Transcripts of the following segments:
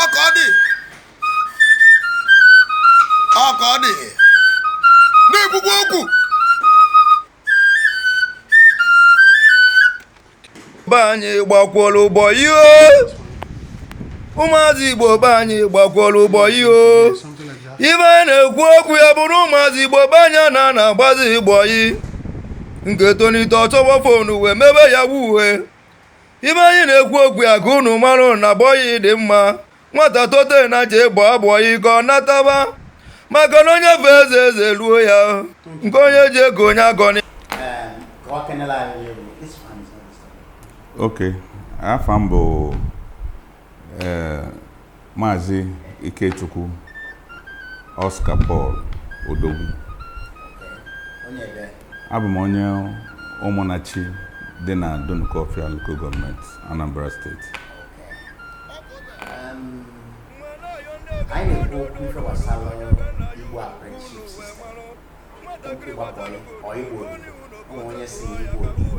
ọ ka ọ dị ọ ka ọ dị na-ekwukwa okwu be anyị gbakwọrọ bọyị ụmụazị igbo be anyị gbakwọrọ bọyị o ibe anyị na-ekwu okwu ya bụrụ ụmụazị igbo be anyị anana agbazi bọyị nke tonite ọ chọwa fonu wee mebe Yahoo ibe anyị na-ekwu okwu ya ka unu marụ na bọyị dị mma nwata tote na je gbaa bọyị ka ọ nataba maka na onye fee eze eze ruo ya nke onye ji ego onye agọni Okay. Afa m bụ ee maazị Ikechukwu Oscar Paul Odogwu abụ m onye Ụmụnnachi dị na Dunukọfịa Local Gọọmenti Anambra Steeti ụkwụ ịgba bọyị or odibo ụmụ onye sị ịgba odibo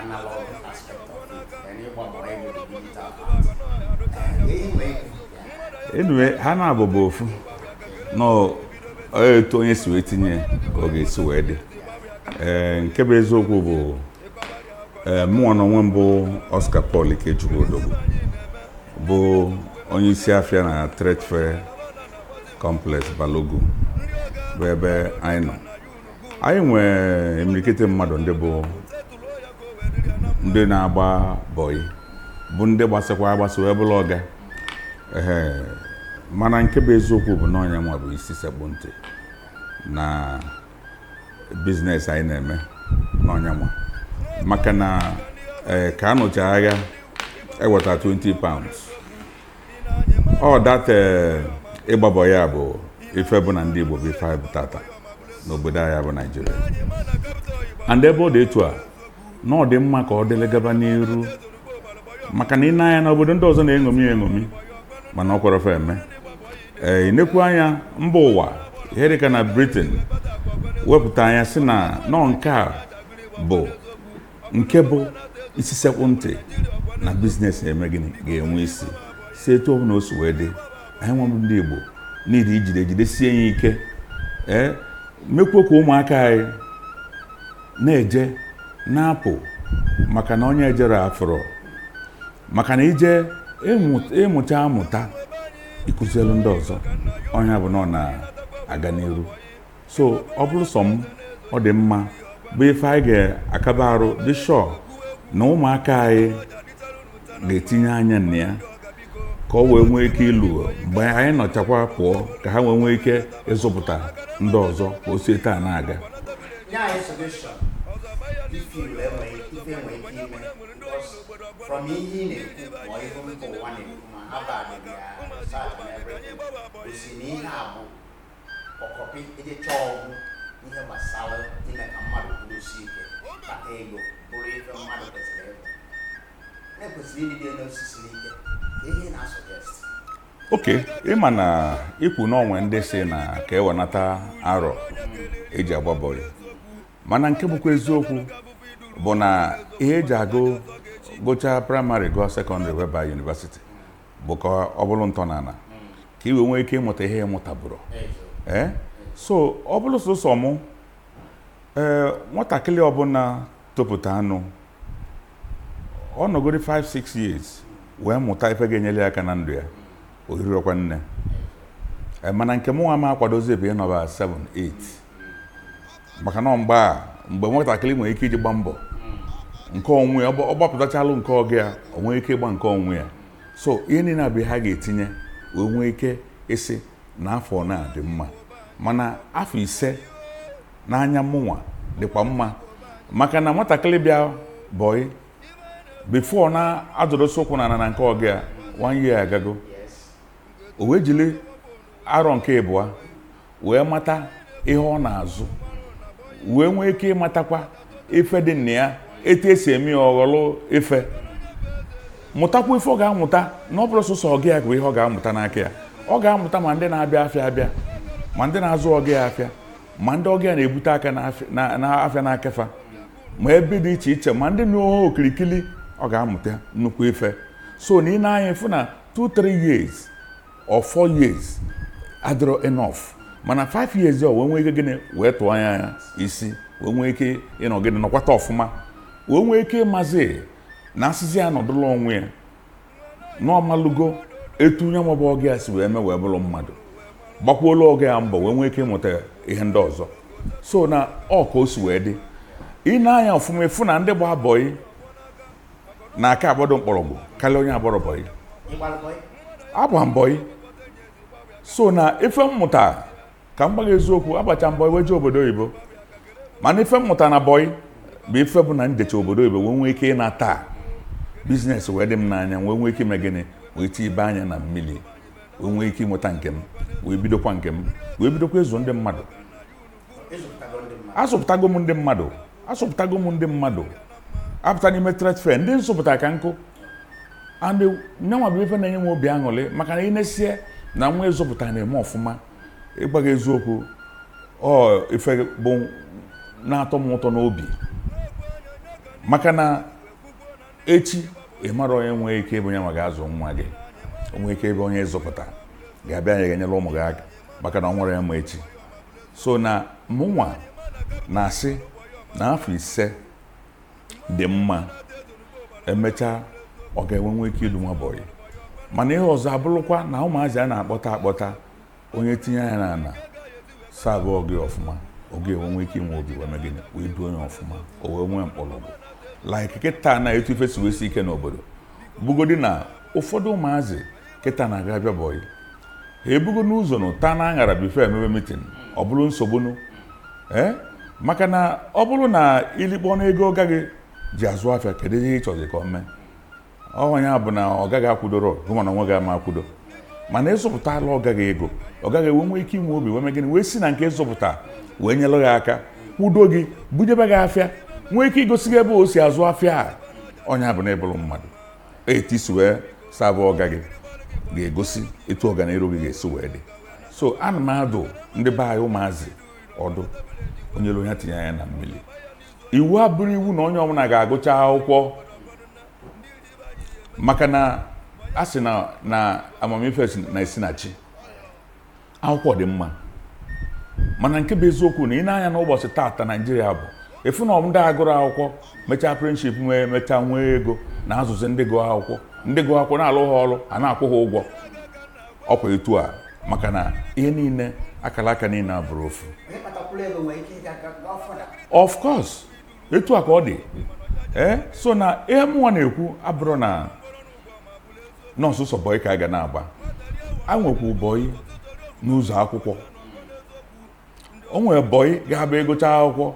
analog aspect of it and ịgba bọyị bụ the digital part Eh, ihe nwee ike anyway ha naabọ bụ ofu na ọ- ọ etu onye si wee tinye ya ka ọ ga-esi wee dị ee nke bụ eziokwu bụ ee mụnwa na onwe m bụ Oscar Paul Ikechukwu Odogwu bụ onye isi afịa na Trade Fair complex Balogun bụ ebe anyị nọ anyị nwee imirikiti mmadụ ndị bụ ndị na-agba bọyị bụ ndị gbasịkwa agbasị wee bụrụ ọga ee mana nke bụ eziokwu bụ na ọ nya nwa bụ isi sekpụ ntị na biznes anyị na-eme na ọ nya nwa maka na ee ka a nụcha agha eweta 20 pounds ọ data eh, ịgba bọyị a bụ ife bụ na ndị Igbo bụ ife anyị bụ tata n'obodo anyị bụ Naijiria and ebe ọ dị etu a na ọ dị mma ka ọ dịlị gaba n'iru maka na i nee anya na obodo ndị ọzọ na-eṅomi eṅomi mana o kwerọ fa eme ee eh, nekwu anya mba ụwa ihe dịka na Britain wepụta nya sị na ọ nke a bụ nke bụ isi sekpụ ntị na biznes na-eme gịnị ga-enwe isi so etu ọ bụla o si wee dị anyịnwa bụ ndị Igbo need ijide jidesie ya ike ee mekwuo ka ụmụaka anyị na-eje na-apụ maka na onye ejerọ afụrọ maka na i jee ị mụta amụta ị kụzielụ ndị ọzọ ọ nya bụ na ọ na-aga n'iru so ọ bụrụ sọ m ọ dị mma bụ ife anyị ga-akaba arụ be sure na ụmụaka anyị ga-etinye anya na ya ka ọ wee nwee ike iluo mgbe anyị nọchakwa pụọ ka ha wee nwee ike ịzụpụta ndị ọzọ ka o si etu a na-aga from ihe ị na-ekwu ma ihe mba ụwa na-ekwu ma Harvard research and everything o si na ihe a bụ ọkọpị eje chọọ ọgwụ ihe gbasara ime ka mmadụ kwudosie ike kpata ego bụrụ ife mmadụ kwesịrị ịbụ na-ekwesịrị ịdịde n'osisi n'ike ka ị na-asuggest okay ị ma na i kwu na o nwe ndị sị na ka e wenata arọ e ji agba bọyị mana nke bụkwa eziokwu bụ na ihe e ji agụ gụchaa praịmarị gụọ sekọndịrị wee baa yunivasiti bụ ka ọ bụrụ ntọnala ka i wee nwee ike ịmụta ihe ị mụtabụrọ ee eh? so ọ bụrụ sọsọ mụ ee eh, nwatakịrị ọbụla topụtanụ ọ nọgoro 5-6 years wee mụta ife ga-enyere ya aka na ndụ ya o rirọkwa nne eh, mana nke mụnwa ma akwadozi ebe ịnọba 7-8 maka na mgbe a mgbe nwatakịrị nwere ike iji gba mbọ nke onwe ya ọ gbapụtachalụ nke ọga ya o nwee ike ịgba nke onwe ya so ihe niile a bụ ihe a ga-etinye wee nwee ike ịsị na afọ na-adị mma mana afọ ise n'anya mụnwa dịkwa mma maka na nwatakịrị bịa bọyị before na-adụrụsị ụkwụ n'ana na nke ọga ya one year agago o wee jiri arọ nke ịbụa wee mata ihe ọ na-azụ wee nwee ike ịmatakwa ife dị na ya etu e si eme ya ọghọlụ ife mụtakwa ife ọ ga-amụta na ọ bụrọ sọsọ ọga ya bụ ihe ọ ga-amụta n'aka ya ọ ga-amụta ma ndị na-abịa afịa abịa ma ndị na-azụ ọga ya afịa ma ndị ọga ya na-ebute aka n'afịa n'aka fa ma ebe dị iche iche ma ndị nọ ha okirikiri ọ ga-amụta nnukwu ife so na ị nee anya ị fụ na 2-3 years or four years adịrọ enough mana five years ọ wee nwee ike gịnị wee tụọ anya ya isi wee nwee ike ịnọ gịnị nọkwata ọfụma wee nwee ike ịmazi na a sịzi ya nọdụla onwe ya na ọ malụgo etu onye nwa bụ ọga ya si wee mee wee bụrụ mmadụ gbakwuola ọga ya mbọ wee nwee ike ịmụta ihe ndị ọzọ so na ọ ka o si wee dị ị nee anya ọfụma ị fụ na ndị gba bọyị na-aka agbado mkpọrọgwụ karịa onye agbarọ bọyị agba m bọyị so na ife m mụta ka m gwa gị eziokwu agbacha m bọyị wee jee obodo oyibo mana ife m mụta na bọyị bụ ife bụ na m jecha obodo oyibo wee nwee ike ịnata bizinesi wee dị m n'anya wee nwee ike ime gịnị wee tibe anya na mmiri wee nwee ike ịnweta nke m wee bidokwa nke m wee bidokwa ịzụ ndị mmadụ azụpụtago m ndị mmadụ azụpụtago m ndị mmadụ apụta n'ime trade fair ndị m zụpụta ka nkụ and nyanwa bụ ife na-enye m obi aṅụrị maka na i nesie na nwa ị zụpụta na-eme ọfụma ịgwa gị eziokwu ọ ife bụ na-atọ m ụtọ n'obi maka na echi ị marọ onye nwee ike ịbụ onye ma ga-azụ nwa gị o nwe ike ịbụ onye ị zụpụta ga-abịa anya ga-enyere ụmụ gị aka maka na o nwerọ onye ma echi so na mụnwa na-asị na afọ ise dị mma emechaa ọga enwe nwe ike idu nwa bọyị mana ihe ọzọ abụrụkwa na ụmụazị a na-akpọta akpọta onye tinye anya na ana savụ ọga ya ọfụma ọga ya enwe nwee ike inwe obi wee mee gịnị wee duo onye ọfụma o wee nwee mkpọrọgwụ like kịta na etu ife si wee sie ike n'obodo bụgodi na ụfọdụ ụmụazị kịta na-aga abịa bọyị ha ebugo n'ụzọ na ụta na aṅara bifo emebe mitin ọ bụrụ nsogbu nụ ee eh? maka na ọ bụrụ na i likpọnụ ego ọga gị ji azụ afịa kedu ihe ị chọzi ka ọ mee ọ nya bụ na ọga gị akwụdorọ gị ma na nwa gị ama akwụdo mana ị zụpụtala ọga gị ego ọga gị enwe nwe ike inwe obi wee mee gịnị wee si na nke ị zụpụta wee nyelụ gị aka kwudo gị bunyebe gị afịa nwee ike igosi gị ebe o si azụ afịa a ọ nya bụ na ị bụrụ mmadụ etu i si wee savụ ọga gị ga-egosi etu ọganiru gị ga-esi wee dị so ana m adụ ndị be anyị ụmụazị ọdụ onye lue ya tinye anya na mmiri iwu abụrụ iwu na onye ọbụla ga-agụcha akwụkwọ maka na a sị na na amamife na-esi na chi akwụkwọ dị mma mana nke bụ eziokwu na i nee anya n'ụbọchị taata naijiria bụ ị fụ na ọ bụ ndị agụrọ akwụkwọ mechaa apprenticeship wee mechaa nwee ego na-azụzi ndị gụọ akwụkwọ ndị gụọ akwụkwọ na-alụ ha ọrụ a na-akwụ ha ụgwọ ọkwa etu a maka na ihe niile akara aka niile abụrọ ofu of course etu a ka ọ dị ee eh, so na ihe mụnwa na-ekwu abụrọ na na ọ sọsọ bọyị ka a ga na-agba e nwekwu bọyị n'ụzọ akwụkwọ o nwere bọyị ga-abụ ịgụcha akwụkwọ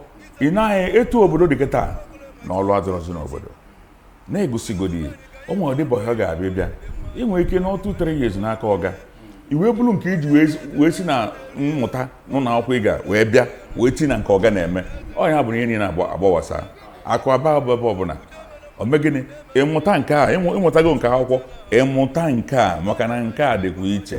ị na-ahụ etu obodo dị kịta na ọlụ adịrọzi n'obodo na-egosigodị o nwere ụdị bọyị ọ ga-abịa bịa ị nwere ike nọtụ three years n'aka ọga i wee buru nke i ji wee si na mmụta n'ụlọ akwụkwọ ị ga wee bịa wee ti na nke ọga na-eme ọ ya bụ na ihe niile agbawasa akụ aba ebe ọbụla o mee gịnị ị mụta nke a ị mụtago nke akwụkwọ ị mụta nke a maka na nke a dịkwa iche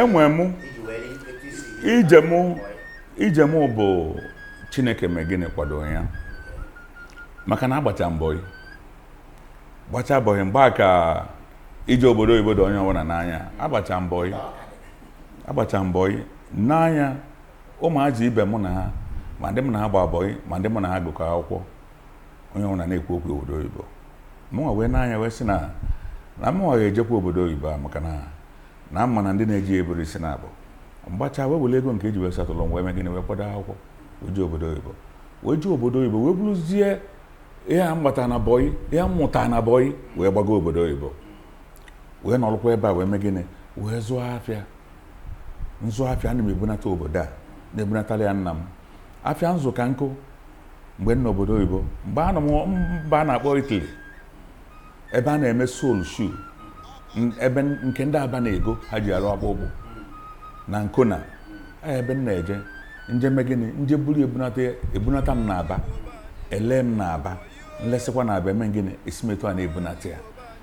enwe eh, m ije m ije m bụ chineke mee gịnị kwado ya maka na agbacha m bọyị gbacha bọyị mgbe a ka ije obodo oyibo dị onye ọbụla n'anya agbacha m bọyị agbacha m bọyị n'anya ụmụazị ibe mụ na ha ma ndị mụ na ha gba bọyị ma ndị mụ na ha gụkọ akwụkwọ onye ọbụna na-ekwu okwu obodo oyibo mụnwa wee n'anya wee sị na na mụnwa ga-ejekwa obodo oyibo a maka na na ama na ndị na-eje eburu isi na abụ m gbacha wee were ego nke e ji wee settle wee mee gịnị wee kwado akwụkwọ wee jee obodo oyibo wee jee obodo oyibo wee buruzie ihe a m gbata na bọyị ihe m mụta na bọyị wee gbago obodo oyibo wee nọrụkwa ebe a wee mee gịnị wee zụọ afịa nzụ afịa ana m ebunata obodo a na-ebunatara ya nna m afịa nzụ ka m kọ mgbe m nọ obodo oyibo mgbe a nọ m mba a na-akpọ Italy ebe a na-eme sole shoe ebe nke ndị Aba na-ego ha ji arụ akpụkpụ na Ancona ebe m na-eje nje mee gịnị nje buru ebunata ebunata m n'Aba ele m n'Aba nlesịkwa n'Aba eme gịnị esi m etu a na-ebunata ya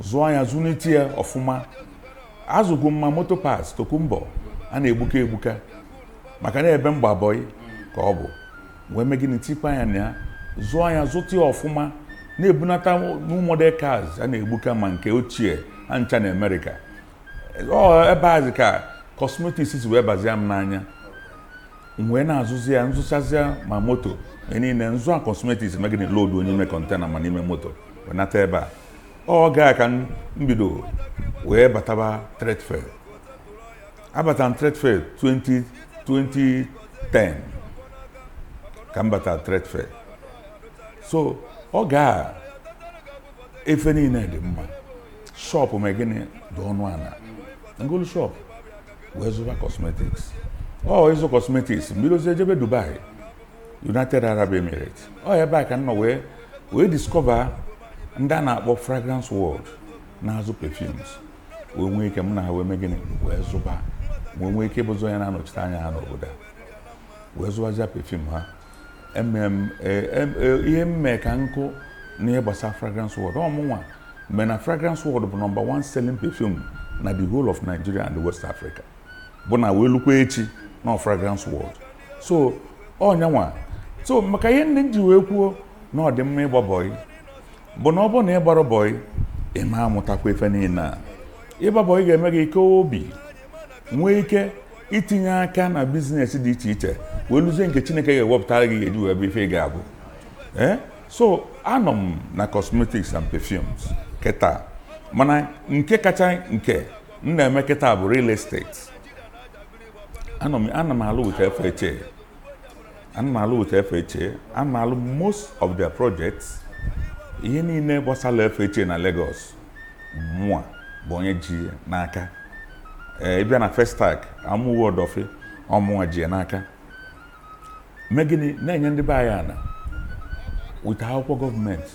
zụọ ya zụlite ya ọfụma azụgo m ma moto parts tokunbo a na-egbuka egbuka maka na ebe m gba bọyị ka ọ bụ wee mee gịnị tikwa ya na ya zụọ ya zụta ya ọfụma na-ebunata new model cars a na-egbuka ma nke ochie ha ncha na America ọ ebe azị ka cosmetics si wee bazia m n'anya m wee na-azụzi ya nzụchazịa ma moto ihe niile nzụa cosmetics mee gịnị lodunye ime container ma n'ime moto wee nata ebe a oge a ka m bido wee bataba trade fair abata m trade fair 20 2010 ka m bata trade fair so oge a ife niile dị mma shop mee gịnị dị ọnụ ala ngolu shop wee zụba cosmetics ọ ịzụ cosmetics m bidozie jebe Dubai United Arab Emirates ọ ebe a ka m nọ wee wee discover ndị a na-akpọ fragrance world na-azụ perfumes wee nwee ike m na ha wee mee gịnị wee zụba wee nwee ike ịbụzi onye na-anọchite anya ha n'obodo a wee zụbazịa perfume ha Emem- e- em- e- ihe mere ka m kwuo n'ihe gbasara fragrance world ọ mụnwa mere na fragrance world bụ number one selling perfume na the whole of Nigeria and the West Africa bụ na wee lukwa echi na fragrance world so ọ nyanwa so maka ihe ndị m ji wee kwuo na ọ dị mma ịgba bọyị bụ na ọ bụrụ na ị gbarọ bọyị ị ma amụtakwa ife niile a ịgba bọyị ga-eme gị ike obi nwee ike itinye aka na bizinesi dị iche iche wee luzie nke chineke ga-ewepụtara gị ị ga-eji wee bụ ife ị ga-abụ ee so anọ m na cosmetics and perfumes kịta mana nke kacha nke m na-eme kịta bụ real estate ana m ana m alụ with FHA ana m alụ with FHA ana m alụ most of their projects ihe niile gbasara FHA na Lagos mụa bụ onye ji ya n'aka ee ị bịa na Festac Amuwo Odofin ọ mụwa ji ya n'aka mee gịnị na-enye ndị be anyị ana with akwụkwọ gọọmenti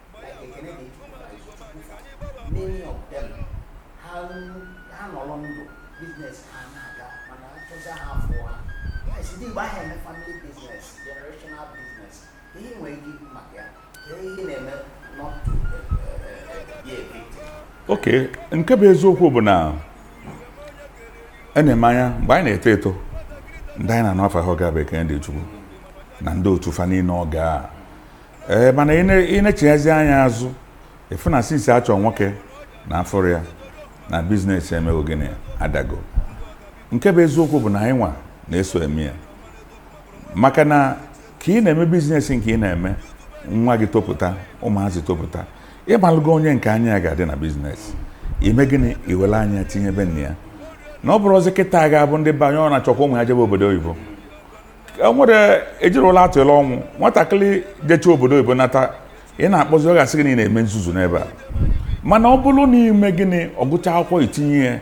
oke nke bụ eziokwu bụ na a e na-ene anya mgbe anyị na-eto eto ndị anyị na-anụ afa ha ga-abụ Ekene Dili Chukwu na ndị otu fa niile ọ gaa ee mana ị nechiyezie anya azụ ị fụ na since a chọ nwoke na afụrọ ya na bizinesi emewo gịnị adago nke bụ eziokwu bụ na anyị nwa na-eso eme ya maka na ka ị na-eme bizinesi nke ị na-eme nwa gị topụta ụmụazị topụta ị malụgo onye nke anya ya ga-adị na bizinesi i mee gịnị i were anya tinye be nna ya na ọ bụrụ ọzọ kịta ga-abụ ndị be anyị ọ na-achọkwa ụmụ ya jebe obodo oyibo e nwere ejiri ya atụlụ ọnụ nwatakịrị jecha obodo oyibo nata ị na-akpọzi ọ ga-asị gị na ị na-eme nzuzu n'ebe a mana ọ bụrụ na i mee gịnị ọ gụcha akwụkwọ i tinye ya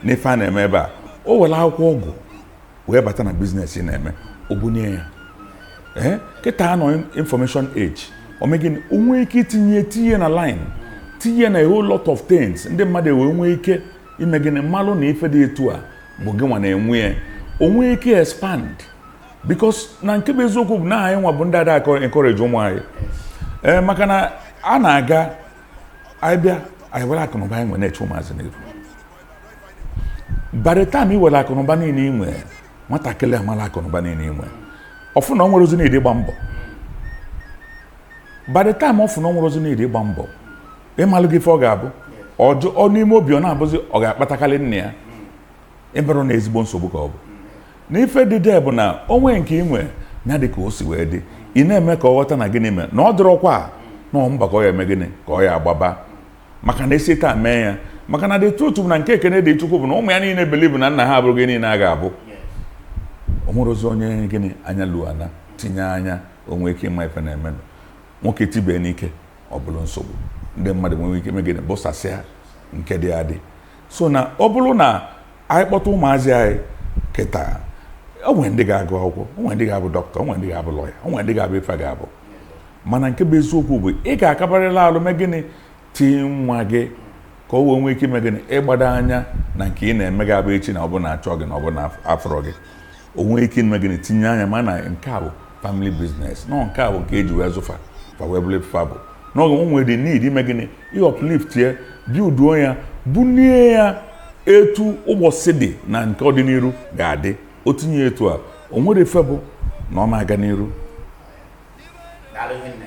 n'ife a na-eme ebe a o were akwụkwọ ọ gụrụ wee bata na biznes ị na-eme o bunie ya ee eh, kịta a nọ information age o mee gịnị o nwee ike itinye tinye na line tinye na a whole lot of things ndị mmadụ ewee nwee ike ime gịnị malụ na ife dị etu a bụ gị nwa na-enwe ya o nwee ike expand because na nke bụ eziokwu bụ na anyị nwa bụ ndị ada encourage ụmụ anyị ee eh, maka na a na-aga anyị bịa anyị were akụnụba anyị nwe na-eche ụmụazị n'iru by the time ị were akụnụba niile i nwe nwatakịrị amala akụnụba niile i nwe ọ fụ na o nwerọzi need ịgba mbọ by the time ọ fụ na o nwerọzi need ịgba mbọ ị malụgo ife ọ ga-abụ ọ jụọ n'ime obi ọ na-abụzi ọ ga-akpatakarị nna ya ịbụrụ na ezigbo nsogbu ka ọ bụ na ife dị there bụ na o nwe nke i nwe ya dị ka o si wee dị ị na-eme ka ọ ghọta na gịnị mee na ọ dịrọkwa a, na ọ mbọ ka ọ ya-eme gịnị ka ọ ya-agbaba maka na e si taa mee ya maka na the truth bụ na nke Ekene Dili Chukwu bụ na ụmụ ya niile believe na nna ha abụrụgo ife niile a ga-abụ o nwerọzi onye gịnị anya luo ana tinye anya o nwee ike ịma ife na-emenụ nwoke tibee n'ike ọ bụrụ nsogbu ndị mmadụ nwere ike ime gịnị busasịa nke dị adị so na ọ bụrụ na anyị kpọta ụmụazị anyị kịta o nwe ndị ga-agụ akwụkwọ o nwe ndị ga-abụ dọkịta o nwe ndị ga-abụ lọya o nwe ndị ga-abụ ife ga-abụ mana nke bụ eziokwu bụ ị ga-akabarịla alụ mee gịnị tii nwa gị ka o wee nwee ike ime gịnị ịgbado anya na nke ị na-eme ga-abụ echi na ọ bụ na a chọọ gị na ọ bụ na afụrọ gị o nwee ike ime gịnị tinye anya ma na nke a bụ family business na ọ nke a bụ nke eji wee zụọ fa fa wee bụrụ ife fa bụ n'oge o nwere the need ime gịnị ị uplift ya builduo ya bunie ya etu ụbọsị dị na nke ọdịniru ga-adị o tinye ya etu a o nwere ife bụ na ọ na-aga n'iru Daalụ rinne.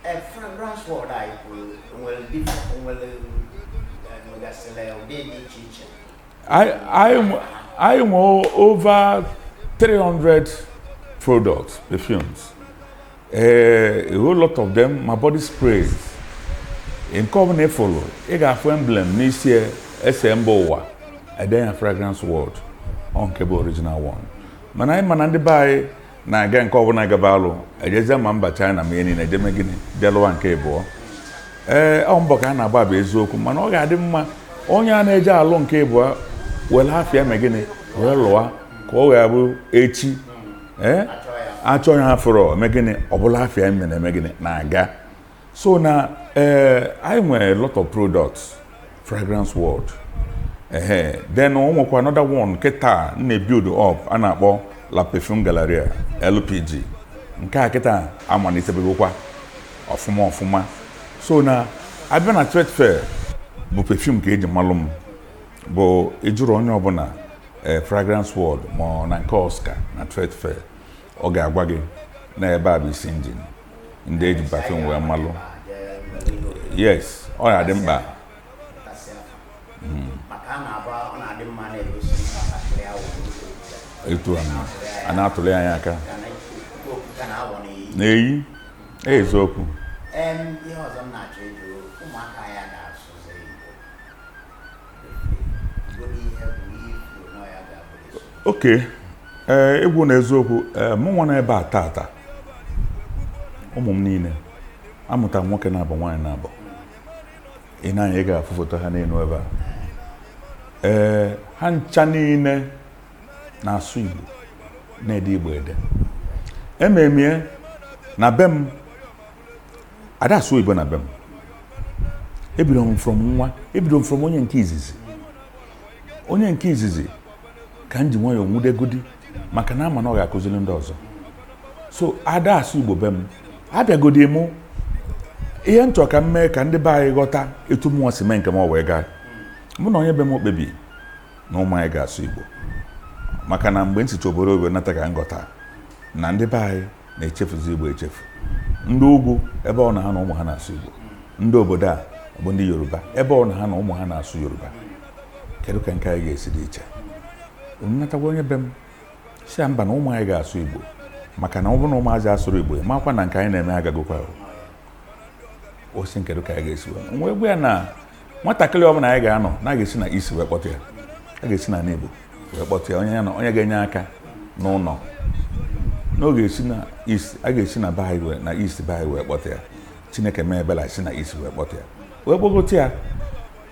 Ee, Fragrance World anyị kwuru nwere dif- nwere eh, nwegasịrị ụdị dị iche iche anyị nwe over 300 products perfumes eh, a whole lot of them ma body sprays nke ọbụla ị fụlụ ị ga-afụ emblem n'isi ya e se mba ụwa e denye ya fragrance world ọ nke a bụ original one mana anyị ma na ndị be anyị na-aga nke ọbụla gaba alụ ejezie ma mba China ma ihe niile eje eme gịnị je lụa nke ịbụọ ee ọ mbọ ka a na-agba bụ eziokwu mana ọ ga-adị mma onye a na-eje alụ nke ịbụọ were afa ya mee gịnị wee lụa ka ọ ya-abụ echi ee a chọọ ya afụrọ eme gịnị ọ bụlụ afa ya eme na-eme gịnị na-aga so na eh, anyị nwere lot of products fragrance world ehe then o nwekwa another one kịta m na-ebuild up a na-akpọ la perfume galleria lpg nke a kịta amalitebegokwa ọfụma ọfụma so na a bịa na trade fair bụ perfume ka eji malụ m bụ ị jụrụ onye ọbụla eh, fragrance world ma ọ na nke oscar na trade fair ọ ga-agwa gị na ebe a bụ isi engine ndị eji perfume wee malụ yes ọ na-adị mkpa hmm. etu a na-atụle anya aka na-eyi eziokwu ok eh, egwu na eziokwu eh, mụ nwa na ebe a tata ụmụ m niine amụta nwoke naabọ nwaanyị naabọ ị nee anya ị ga-afụ foto ha n'enu ebe a ee eh, ha ncha niine na-asụ Igbo na-ede Igbo ede eme m ya na be m ada asụ oyibo na be m ebido m from nwa ebido m from onye nke izizi onye nke izizi ka m ji nwayọọ nwudegodi maka na ama m na ọ ga-akụziri ndị ọzọ so ada asụ igbo be m abịagodi mụ ihe m chọrọ ka m mee ka ndị be anyị ghọta etu mụnwa si mee nke m ọ wee gaa mụ na onye be m kpebi na ụmụ anyị ga-asụ igbo maka na mgbe m sicha obodo oyibo nata ka m ghọta na ndị be anyị na-echefuzi Igbo echefu ndị ugwu ebe ọ na ha na ụmụ ha na-asụ Igbo ndị obodo a bụ ndị Yoruba ebe ọ na ha na ụmụ ha na-asụ Yoruba kedu ka nke anyị ga-esi dị iche m nata gwa onye be m sị ya mba na ụmụ anyị ga-asụ Igbo maka na ọ bụrụ na ụmụazị asụrọ Igbo ya makwa na nke anyị na-eme agagokwa ọ sị m kedu ka anyị ga-esi wee gwa ya na nwatakịrị ọbụla anyị ga-anọ na ga-esi na East wee kpọta ya a ga-esi na n'Igbo wee kpọta ya onye ga-enye aka n'ụlọ n'oge e si na East a ga-esi na be anyị wee na East be anyị wee kpọta ya chineke mee ebele e si na East wee kpọta ya wee kpọgote ya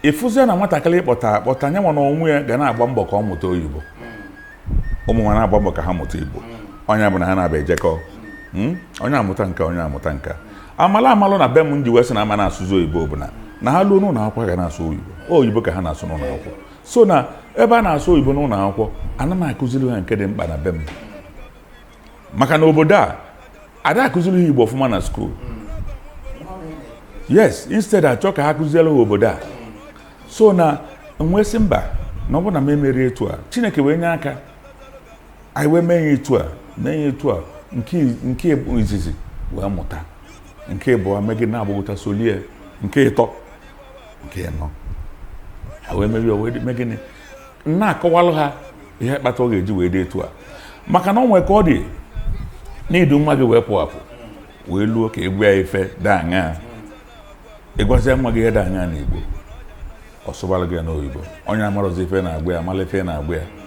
ị fụzie na nwatakịrị kpọta akpọta nya na onwe ya ga na-agba mbọ ka ọ mụta oyibo ụmụ nwa na-agba mbọ ka ha mụta igbo onye ọbụna ha na-abịa ejekọ hmm? onye amụta nka onye amụta nka amala amalụ na be m m ji wee sị na ama na-asụzi oyibo bụ na na ha luo n'ụlọ akwụkwọ ga na-asụ oyibo oyibo ka ha na-asụ n'ụlọ akwụkwọ so na ebe a na-asụ oyibo n'ụlọ akwụkwọ ana m akụziri ha nke dị mkpa na be m maka na obodo a ada akụziri ha igbo ọfụma na skuul yes instead a chọọ ka ha kụziere ha obodo a so na m wee sị mba na ọ bụrụ na m emerọ etu a chineke wee nye aka anyị wee mee ya etu a mee ya etu a nke izizi wee mụta nke ịbụọ mee gịnị na-agbagota solie nke ịtọ nke ịnọ ha wee merie wee mee gịnị na-akọwalụ ha ihe kpata ọ ga-eji wee dị etu a maka na ọ nwee ka ọ dị na i du nwa gị wee pụ apụ wee luo ka ị gwa ya ife dị aṅaa ị gwazie nwa gị ihe dị aṅaa n'igbo ọ sụbara gị ya n'oyibo onye amarọzi ife na-agwa ya amala ife na-agwa ya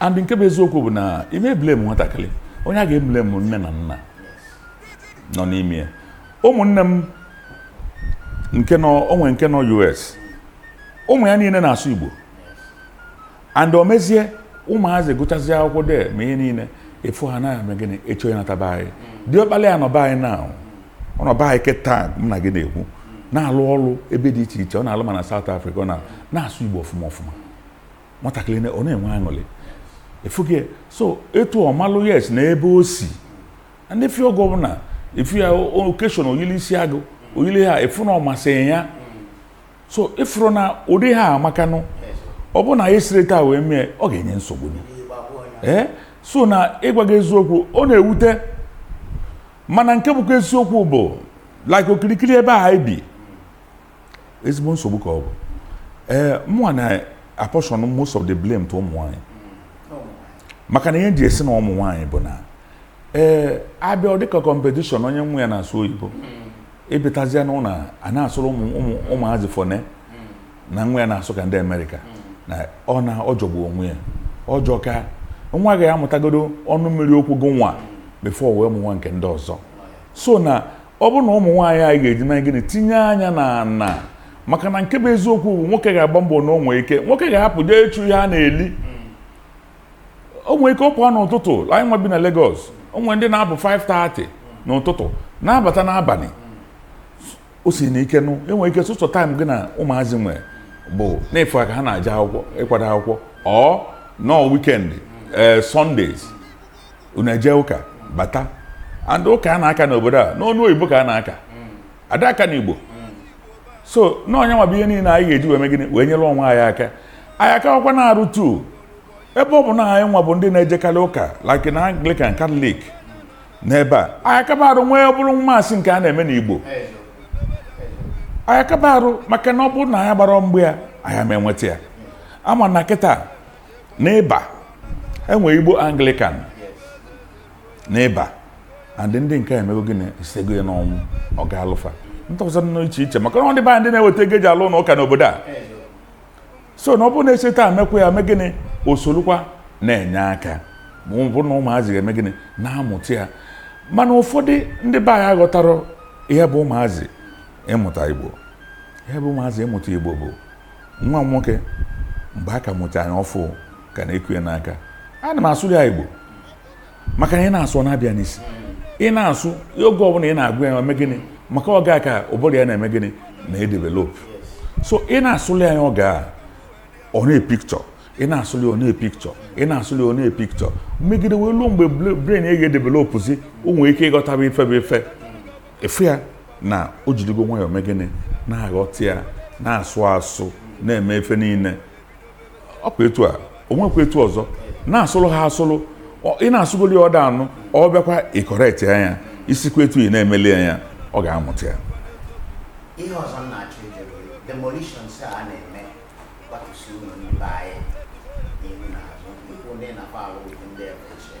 and nke bụ eziokwu bụ na ị ma eblame nwatakịrị onye a ga-eblame nne na nna nọ n'ime ya ụmụnne m nke nọ o nwe nke nọ US ụmụ ya niile na-asụ Igbo and o mezie ụmụazị gụchazie akwụkwọ de ma ihe niile efu ha anaghị eme gịnị echo ya nata be anyị diọkpala ya nọ be anyị na ọ nọ be anyị kịta m na gị na-ekwu na-alụ ọrụ ebe dị iche iche ọ na-alụ ma na South Africa ọ na- na-asụ Igbo ọfụma ọfụma nwatakịrị na- ọ na-enwe aṅụrị efuge so etu ọ malụ yes na ebe o si and ị fụ ya oge ọbụna ị fụ ya na occasion o yili isi agụ o yili ya ị fụ na ọ masị ya so ị fụrụ na ụdị ihe a amakanụ ọ bụrụ na anyị siri taa wee mee ọ ga-enye nsogbu ee so na ịgwa gị eziokwu ọ na-ewute m mana nke bụkwa eziokwu bụ like okirikiri ebe a anyị bi ezigbo nsogbu ka ọ bụ ee mụnwa na-apportion most of the blame to ụmụ nwaanyị maka na ihe ji esi na ụmụ nwaanyị bụ na ee ọ bịa dịka competition onye nwa ya na-asụ oyibo ị batazia na ụlọ a na-asụrụ ụmụ ụmụ ụmụazị fọne na nwa ya na-asụ ka ndị amerịka na ọ na ọ jọgbu onwe ya ọjọọ ka nwa gị amụtagodo ọnụ mmiri okwu gụ nwa before wee mụwa nke ndị ọzọ so na ọ bụ na ụmụ nwaanyị anyị ga-eji mee gịnị tinye anya na ana maka na nke bụ eziokwu bụ nwoke ga-agba mbọ na o nwe ike nwoke ga-apụ jee ịchụ ihe a na-eli o nwere ike ọ pụọ n'ụtụtụ anyị nwa bi na Lagos o nwere ndị na-apụ 5:30 n'ụtụtụ na-abata n'abalị o si na ike nụ enwere ike sọsọ time gị na ụmụazị nwere bụ na-afụ ka ha na-aje akwụkwọ ịkwado akwụkwọ or na weekend ee Sundays unu eje ụka bata and ụka a na-aka n'obodo a n'ọnụ oyibo ka a na-aka a da aka na igbo so na ọ nya nwa bụ ihe niile anyị ga-eji wee mee gịnị wee nyere onwe anyị aka anyị akawakwa na-arụ too ebe ọ bụ na anyị nwa bụ ndị na-ejekarị ụka like na anglican catholic n'ebe a anyị akaba arụ nwee bụrụ mass nke a na-eme n'igbo anyị akaba arụ maka na ọ bụrụ na anyị agbarọ mgba ya anyị ama enweta ya ị ma na kịta n'Iba e nwere igbo anglican n'Iba and ndị nke emego gịnị isego ya n'ọnwụ ọ ga-alụfa ndị ọzọ nọ iche iche maka na ndị be anyị na-eweta ego eji alụ ụnọ ụka n'obodo a so na ọ bụrụ na e si taa mekwa ya mee gịnị o solukwa na-enye aka ma ọ bụrụ na ụmụazị ga-eme gịnị na-amụta ya mana ụfọdụ ndị be anyị aghọtarọ ihe bụ ụmụazị ịmụta igbo ihe bụ ụmụazị ịmụta igbo bụ nwa m nwoke mgbe a ka mụta ya ọfụ ka na-eku ya n'aka ana m asụlị ya Igbo maka na ị na-asụ na-aba ya n'isi ị na-asụ oge ọbụla ị na-agụ ya eme gịnị maka oge a ka ụbụrụ ya na-eme gịnị na-edevelop so ị na-asụli ya oge a ọ na-epicture ị na-asụli ọ na-epicture ị na-asụli ọ na-epicture megide wee ruo mgbe brain ya ga-edevelopụzi o nwere ike ịghọtaba ife bụ ife ị fụ ya na o jiligo nwayọọ mee gịnị na-aghọta ya na-asụ asụ na-eme ife niile ọ kwa etu a o nwekwa etu ọzọ na-asụrụ ha asụrụ Ọ- ị na-asụgoli ya ọ da anụ ọ bịakwa ịcorrect ya ya isikwa etu ị na-emeli ya ya ọ ga-amụta ya ihe ọzọ m na-achọ ije bụ demolitions a a na-eme gbatusi ụlọ ndị be anyị n'ihu na azụ ikwu ndị na-akwa alụ ụdị ndị ebe ochie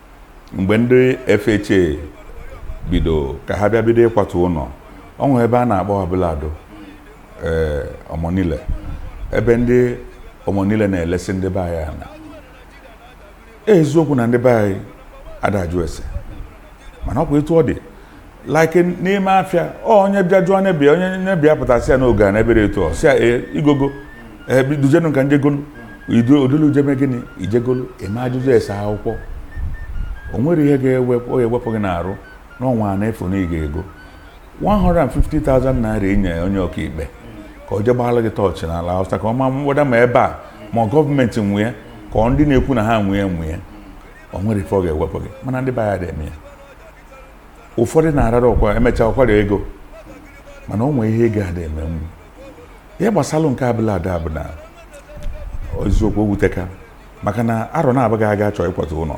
mgbe ndị FHA bido ka ha bịa bido ịkwatu ụlọ o nwere ebe a na-akpọ Abule Ado ee Omonile ebe ndị Omonile na-elesi ndị be anyị ana eziokwu na ndị be anyị ada ajụ ese mana ọ kwa etu ọ dị like n'ime afịa ọ onye bịa jụọ onye bịa onye nye bịa pụta sị ya n'oge a n'ebere etu ọ sị ya ee i gogo ee dujenu ka m je golu idu odolu je mee gịnị i je golu eme ajụjụ ese akwụkwọ o nwere ihe ga-ewepụ ọ ga-ewepụ gị n'arụ n'ọnwa a na-efu na ị ga-ego 150,000 naira inye onye ọkaikpe ka ọ jee gbaala gị tọọchị n'Alausa ka ọ ma whether ma ebe a ma gọọmenti nwe ya ka ọ ndị na-ekwu na ha nwe nwe ya o nwere ife ọ ga-ewepụ gị mana ndị be anyị adịghị eme ya ụfọdụ na-arara ọkwa emecha ọkwara ego mana o nwee ihe ego ada emenwu ihe gbasalụ nke Abule Ado bụ na eziokwu o wuteka maka na arọ naabọ gara aga achọ ịkwatu ụlọ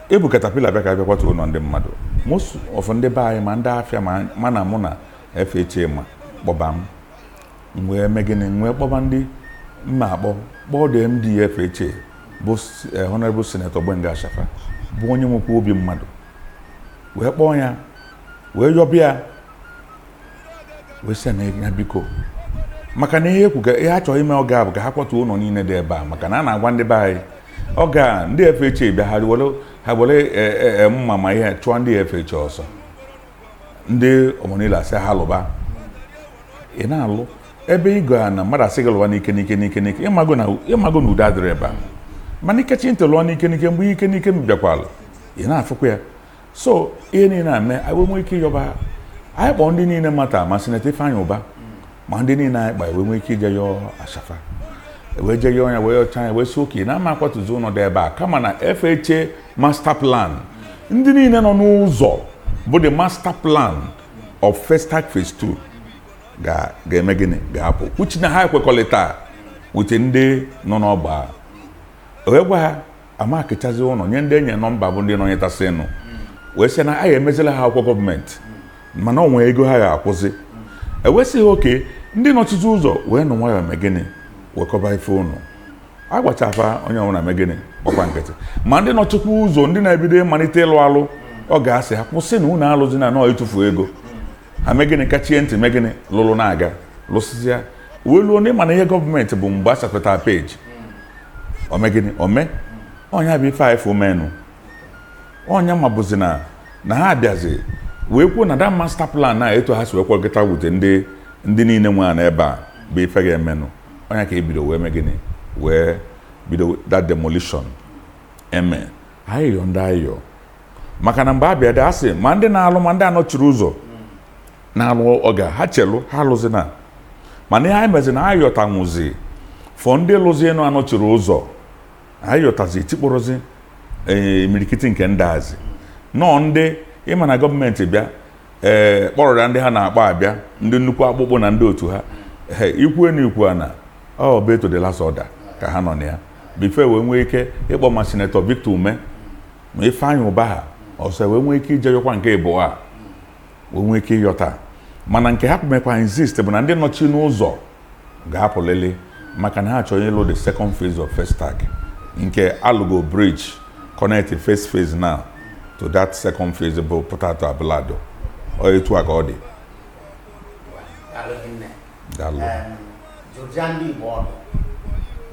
ebu katapila bịa ka a bịa kwatu ụlọ ndị mmadụ most of ndị be anyị ma ndị afịa ma- ma na mụ na FHA ma kpọba m m wee mee gịnị m wee kpọba ndị m ma akpọ kpọọ the MD FHA bụ s- eh, Honorable Senator Gbenga Ashafa bụ onye nwekwa obi mmadụ wee kpọọ ya wee yọba ya wee sị ya na ya biko maka na ihe ekwu ka ihe a chọrọ ime oge a bụ ka ha kwatuo ụlọ niile dị ebe a maka na a na-agwa ndị be anyị oge a ndị FHA bịa ha were ha were eh, eh, eh, mma ma ihe chụọ ndị FHA ọsọ ndị Omonile asị ha lụba ị na-alụ ebe ị ga na mmadụ asị gị lụba n'ike n'ike n'ike n'ike ị mago na ị mago na udo adịrị ebe a mana i kachi ntị lụọ n'ike n'ike mgbe ike n'ike bịakwala ị na-afụkwa ya so ihe niile na-eme anyị wee nwee ike ịyọba anyị kpọọ ndị niile mata ma Senator Ifeanyị Ụba ma ndị niile anyị kpa wee nwee ike ije yọọ Ashafa wee je yọọ ya wee yọcha ya wee sị okay na a ma akwatuzi ụlọ dị ebe a kama na FHA master plan ndị niile nọ n'ụzọ bụ the master plan of Festac phase 2 ga- ga-eme gịnị ga-apụ which na ha ekwekọrịta with ndị nọ n'ogbe a. o wee gwa ha a makịchazi ụlọ nye ndị e nye nọmba bụ ndị nọnyetasịnụ wee sị na a ga-emezila ha akwụkwọ gọọmenti mana ọ nwee ego ha ga-akwụzi e wee sị OK ndị nọchizi ụzọ weenụ nwayọọ mee gịnị wekọba ife unu a gwacha fa onye ọbụla mee gịnị gbakwa nkịtị ma ndị nọchịkwa ụzọ ndị na-ebido ịmalite ịlụ alụ ọ ga-asị ha kwụsị na unu alụzina na ọ ịtụfu ego ha mee gịnị kachie ntị mee gịnị lụrụ na-aga lụsịsịa wee luo na ị ma na ihe gọọmenti bụ mgbe a sapeta peji o mee gịnị o mee ọ nya bụ ife a ị fụ menụ ọ nya ma bụzi na na ha abịazi wee kwuo na the master plan a etu ha si wee kwekọta with ndị ndị niile nwe ana ebe a bụ ife ga-emenụ ọ ya ka e bido wee mee gịnị wee bido that demolition e mee ayịyọ ndị ayịyọ maka na mgbe a bịadị a sị ma ndị na-alụ ma ndị anọchirọ ụzọ na-alụ ọ gwa ha chelụ ha alụzina mana ihe anyị mezi na a yọtanwuzi for ndị lụzienụ anọchirọ ụzọ a yọtazi e tikpọrọzi ee, imirikiti nke ndị azi na ọ ndị ị ma na gọọmenti bịa ee kpọrọ ya ndị ha na-akpọ abịa ndị nnukwu akpụkpụ na ndị otu ha ee ikwu na ikwu a na obey to the last order ka ha nọ na ya before e wee nwee ike ịkpọ ma Senator Victor Umeh ma Ifeanyị Ụba ha ọsọ wee nwee ike ije yọkwa nke ịbụọ a wee nwee ike ịyọta mana nke ha ka mekwa insist bụ na ndị nọchinụ ụzọ ga-apụlili maka na ha chọrọ ịlụ the second phase of Festac nke a lụgo bridge connect first phase now to that second phase bụ pụta at Abule Ado ọ etu a ka ọ dị Daalụ. Em, dụa ndị Igbo ọdụ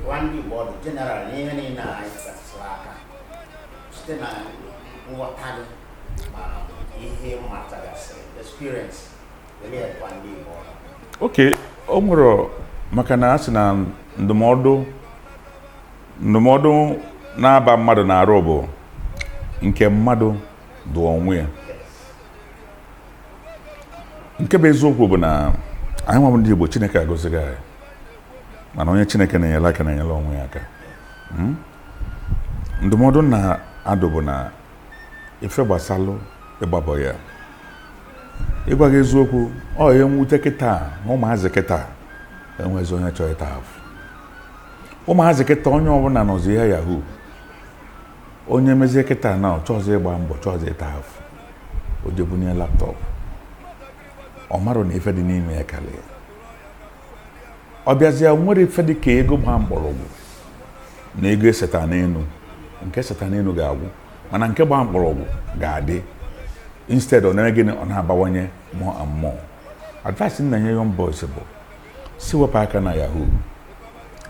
dụa ndị Igbo ọdụ general n'ihe niile a anyị metụsịrị aka site na nghọta gị ma ihe ị matagasịrị experience OK o nwere maka na a sị na ndụmọdụ ndụmọdụ na-aba mmadụ n'arụ bụ nke mmadụ dụ onwe ya nke bụ eziokwu bụ na anyị nwa ndị Igbo Chineke agọzigo anyị mana onye Chineke na-enyere aka na-enyere onwe ya aka hmm? ndụmọdụ m na-adụ bụ na ife gbasalụ ịgba boy a ịgwa gị eziokwu ọ ihe mwute kịta na ụmụazị kịta enwezi onye chọọ ịta afụ ụmụazị kịta onye ọbụla nọzi na yahoo onye mezie kịta na ọ chọọzi ịgba mbọ chọọzi ịta afụ o je bunie laptop ọ marọnụ ife dị n'ime ya karịa ọ bịazie nwere ife dị ka ego gba mkpọrọgwụ na ego eseta n'elu nke eseta n'elu ga-agwụ mana nke gba mkpọrọgwụ ga-adị instead ọ na gịnị ọ na-abawanye more and more advice m na-enye young boys bụ sị wepụ aka na yahoo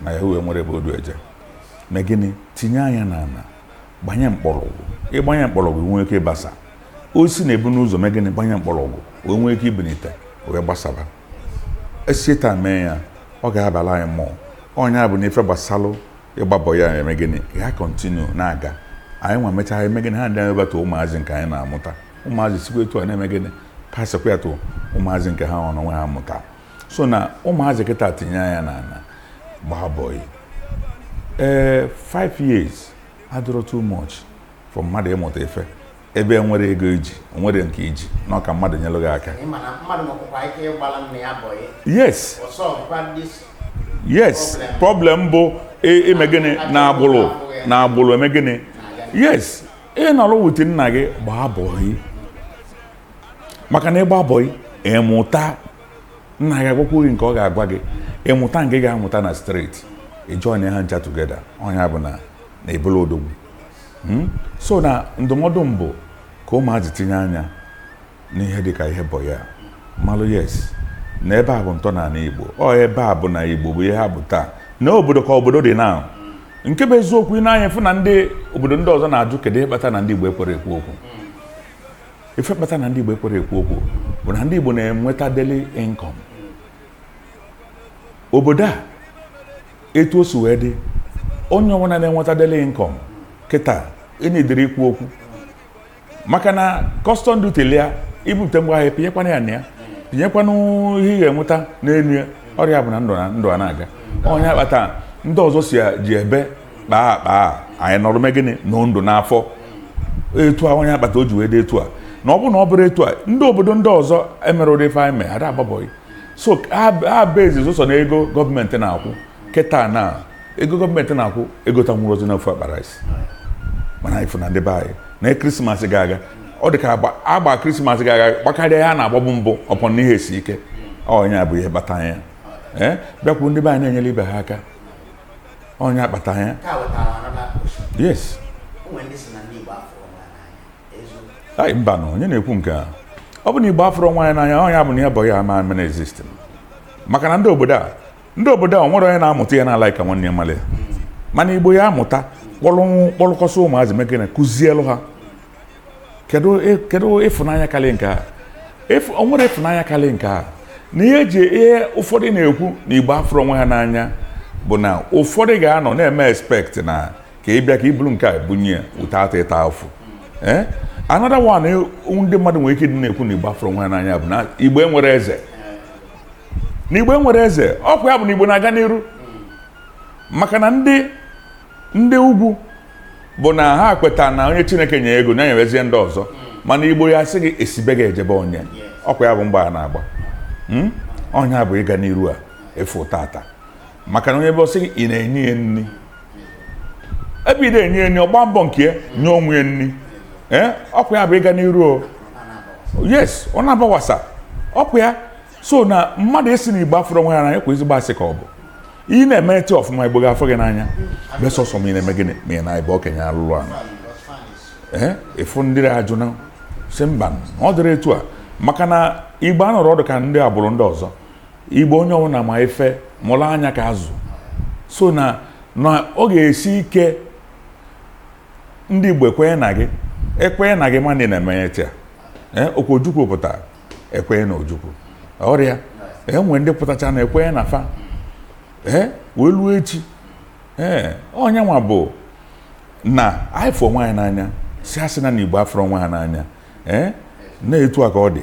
na yahoo enwerọ ebe o du eje mee gịnị tinye anya na ala gbanye mkpọrọgwụ ị gbanye mkpọrọgwụ nwee ike ịgbasa osisi na-ebu ụzọ mee gịnị gbanye mkpọrọgwụ wee nwee ike ibunite wee gbasaba e si etu a mee ya ọ ga-abala anyị mma ọ nya bụ na ife gbasalụ ịgba bọyị eme gịnị ya continue na-aga anyị nwa mechaa eme gịnị handị ya over to ụmụazị nke anyị na-amụta ụmụazị sikwa etu a na-eme gịnị pasịkwa ya to ụmụazị nke ha onwe ha mụta so na ụmụazị kịta tinye anya n'ala gbaa bọyị ee 5 years adịrọ too much for mmadụ ịmụta ife ebe e nwere ego i ji o nwere nke i ji na ọ ka mmadụ nyelụ gị aka yes yes problem bụ ime gịnị na agbụrụ na agbụrụ eme gịnị yes ị nọrọ with nna gị gbaa bọị maka na ịgba bọị ị mụta nna gị agwakwu gị nke ọ ga-agwa gị ị mụta nke ị ga-amụta na street ị join ha ncha together ọ nya bụ na na ị bụlụ odogwu Hmm? so na ndụmọdụ m bụ ka ụmụazị tinye anya n'ihe dịka ihe bọyị a malụ yes na ebe a bụ ntọala igbo ọ ebe a bụ na igbo bụ ihe ha bụ taa na obodo ka obodo dị na nke bụ eziokwu i nee anya fụ na ndị obodo ndị ọzọ na-ajụ kedu ihe kpata na ndị igbo ekwerọ ekwu okwu ife kpata na ndị igbo ekwerọ ekwu okwu bụ na ndị igbo na-enweta daily income obodo a etu o si wee dị onye ọbụla na-enweta daily income kịta ị needirọ ikwu okwu maka na custom duty lịa i bupụta ngwa ahịa pinyekwana ya na ya pinyekwana ihe ị ga-enweta n'elu ya ọ nya bụ na ndụ na ndụ a na-aga ọ nya kpata ndị ọzọ sị ya ji ebe kpaa akpaa anyị nọrọ mee gịnị nọ ndụ n'afọ etu a ọ nya kpata o ji wee dị etu a na ọ bụ na ọ bụrụ etu a ndị obodo ndị ọzọ emerọ ụdị ife anyị mee ada agba bọyị so ha basezi sọ na ego gọọmenti na-akwụ kịta na ego gọọmenti na-akwụ egotanwurọzi ofu akpa rice mana ị fụ na ndị be anyị na krismas gaa aga ọ dị ka a gba krismas gaa aga gbakarịa ya na-agbabu mbụ upon n'ihe esi ike ọ nya bụ ihe kpata ya ee bịakwuru ndị be anyị na-enyere ibe ha aka ọ nya kpata ya yes anyị mba na onye na-ekwu nke a ọ bụ na igbo afụrọ onwe ya n'anya ọ ya bụ na ya bụ ya ama mere exist maka na ndị obodo a ndị obodo a nwere onye na-amụta ya na-ala ka nwanne ya malụ mana igbo ya-amụta kpọrọkọsị ụmụazị mekene kụzielụ ha kedu ịfụnanya karị nke a o nwere ịfụnanya karị nke a na ihe eji ihe ụfọdụ na-ekwu na igbo afụrọ onwe ha n'anya bụ na ụfọdụ ga-anọ na-eme expect na ka ị bịa ka i buru nke a bunye ya without ịta afụ ee another one eh, ndị mmadụ nwere ike ịdị na-ekwu na igbo afụrọ onwe ha n'anya bụ na igbo enwerọ eze na igbo enwerọ eze ọkwa ya bụ na igbo na-aga n'iru maka na ndị ndị ugwu bụ na ha kweta na onye chineke nye ego na nyerezie ndị ọzọ mana igbo ya-asị gị esi be gị eje be onye ọkwa ya bụ mbọ a na-agba Hmm? ọ ya bụ ịga n'iru a efu tata maka na onye bụ sị gị ị na-enye ya nri ebe ị dị enye ya nri ọ gba mbọ nke ya nye onwe ya nri ee ọkwa ya bụ ịga n'iru o yes ọ na-abawasa ọkwa ya so na mmadụ esi na igbo afụrọ onwe ya n'anya kwa ezigbo asị ka ọ bụ ị na-emete ọfụma igbo ga-afụ gị n'anya besọsọ ma ị na-eme gịnị ma ị na-ebe okenye alụlụ ala ee ị fụ ndị ajụ na-asị mba ọ dịrọ etu a maka na igbo anọrọ ọdụ ka ndị agbụrụ ndị ọzọ igbo onye ọbụla ma ife mụrụ anya ka azụ so na na ọ ga-esi ike ndị igbo ekwenye na gị ekwenye na gị mana ị na-emenye tia eh, ọkwa ojukwu pụtara ekwenye na ojukwu ọrịa enwe eh, ndị pụtacha na ekwenye na fa ee eh, wee luo echi ee onye nwa bụ na anyị fụ onwe anyị n'anya sị asị na na igbo afụrọ onwe ha n'anya ee na etu a ka ọ dị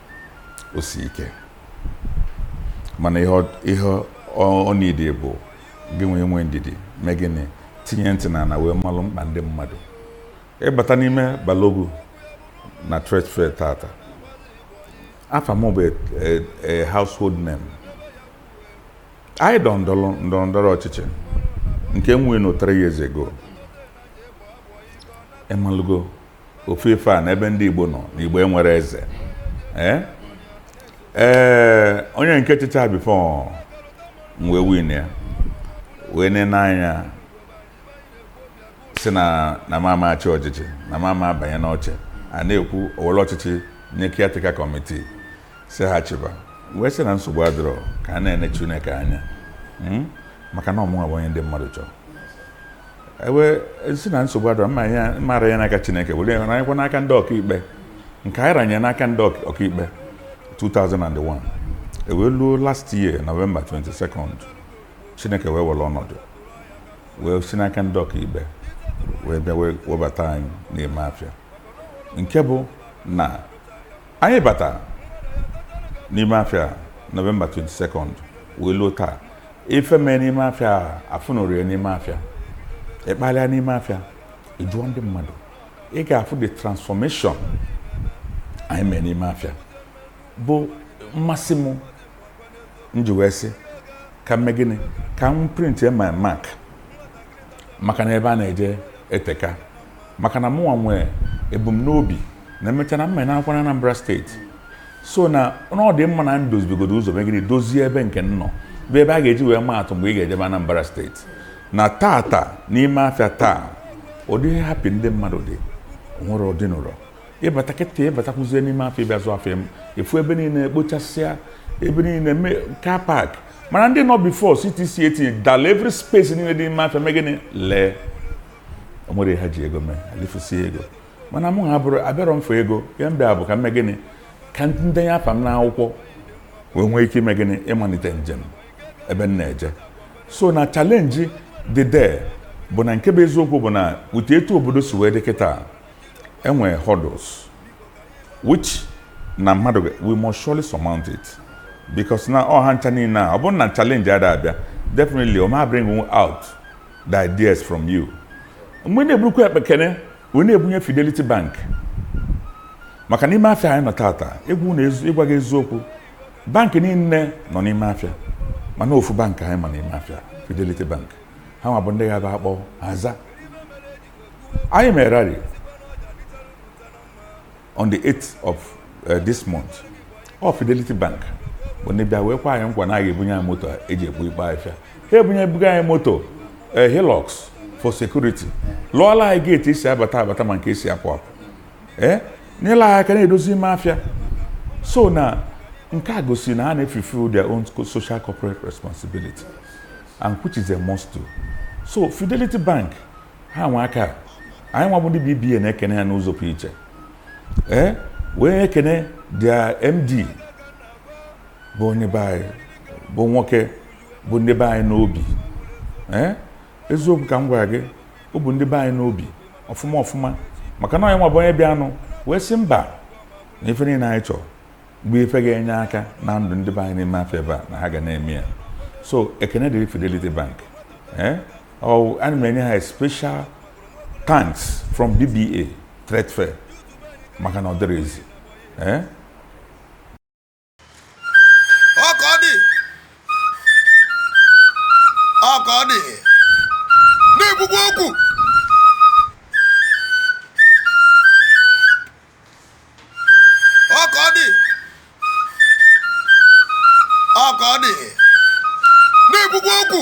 o si ike mana ihe ọ need bụ gị nwee nwee ndidi mee gịnị tinye ntị na na wee malụ mkpa ndị mmadụ ị bata n'ime balogun na trade fair tata afa m bụ e, e, household name anyị dọ ndọrọ ndọrọ ọchịchị nke m win three years ago ị malụgo ofu ife a na ebe ndị Igbo nọ na Igbo enwerọ eze ee onye nke chịcha before m wee win ya wee ne n'anya sị na na m ama achị ọchịchị na m ama abanye n'oche a na-ekwu o were ọchịchị nye caretaker committee sị ha chịba wee sị na nsogbu adịrọ ka a na-ene Chineke anya hmm? maka na ọ mụnwa bụ onye ndị mmadụ chọrọ ewe si na nsogbu adịrọ mara ya n'aka chineke were ya ranyekwa n'aka ndị ọkaikpe nke anyị ranye n'aka ndị ọk- ọkaikpe 2001 ewee luo last year november 22nd chineke wee were ọnọdụ wee si n'aka ndị ọkaikpe wee bịa webata anyị n'ime afịa nke bụ na anyị bata n'ime afịa november 22nd wee luo taa ife mee n'ime afịa afụnụrọ ya n'ime afịa ị kpalịa n'ime afịa ị jụọ ndị mmadụ ị ga-afụ the transformation anyị mee n'ime afịa bụ mmasị m nji wee sị ka m mee gịnị ka m print my mark maka na ebe a na-eje eteka maka na mụnwa nwee ebumnobi na emecha na mma na-akwa na Anambra state so na na ọ dị mma na m dozibegodo ụzọ megide dozie ebe nke m nọ bụ ebe a ga-eji wee maa atụ mgbe ị ga-ejebe Anambra state na tata n'ime afịa taa ụdị happy ndị mmadụ dị nwere ụdị nụrọ ịbata kịta ịbatakwuzie n'ime afịa ịbịa zụọ afịa ị fụ ebe niile ekpochasịa ebe niile mee car park mana ndị nọ before CTC etinye dala every space niile dị n'ime afịa mee gịnị lee o nwere ha ji ego mee alifusie ego mana mụwa abụrọ abịarọ m ife ego ya m bịa bụ ka m mee gịnị ka m denye afa m n'akwụkwọ wee nwee ike ime gịnị ịmalite njem ebe m na-eje so na challenge dị there bụ na nke bụ eziokwu bụ na ụdị etu obodo si wee dị kịta enwee hurdles which na mmadụ we must surely surmount it because na ihe a ncha niile a ọ bụrụ na challenge ada abịa definitely o ma bring out the ideas from you mgbe na-eburukwa akpa ekene wee na-ebunye Fidelity Bank maka n'ime afịa anyị nọ tata ịgwa gị eziokwu bank niile nọ n'ime afịa mana ofu bank anyị ma n'ime afịa Fidelity Bank ha nwa bụ ndị ga-abụ akpọ aza anyị mere rally on the 8th of uh, this month ọ Fidelity Bank bụ ndị bịa wee kwa anyị nkwa na a ga-ebunye anyị moto eji ekpo ikpo afịa ha ebunye ebuga anyị moto eh, Hilux for security lụọla anyị gate esi abata abata ma nke esi apụ apụ ee eh, nyela anyị aka na-edozi ime afịa so na nke a gosi na ha na-efulfill their own social corporate responsibility and which is a must do so Fidelity Bank ha nwa ka anyị nwa bụ ndị BBA na-ekene ha n'ụzọ pụ iche ee eh, wee ekene their MD bụ onye be anyị bụ nwoke bu ndị be anyị n'obi ee eh, eziokwu ka m gwara gị o bu ndị be anyị n'obi ọfụma ọfụma maka na ya nwa bụ onye bịanụ wee sị mba na ife niile anyị chọrọ bụ ife ga-enye aka na ndụ ndị be anyị n'ime afọ ebe a na ha ga na-eme ya so ekene dịrị Fidelity Bank eh? ana m enye ha special thanks from BBA Trade Fair maka na ọ dịrị ezi eh? ọ ka ọ dị ọ ka ọ dị na-ekwukwa okwu ọ ka ọ dị ọ ka ọ dị na-ekwukwa okwu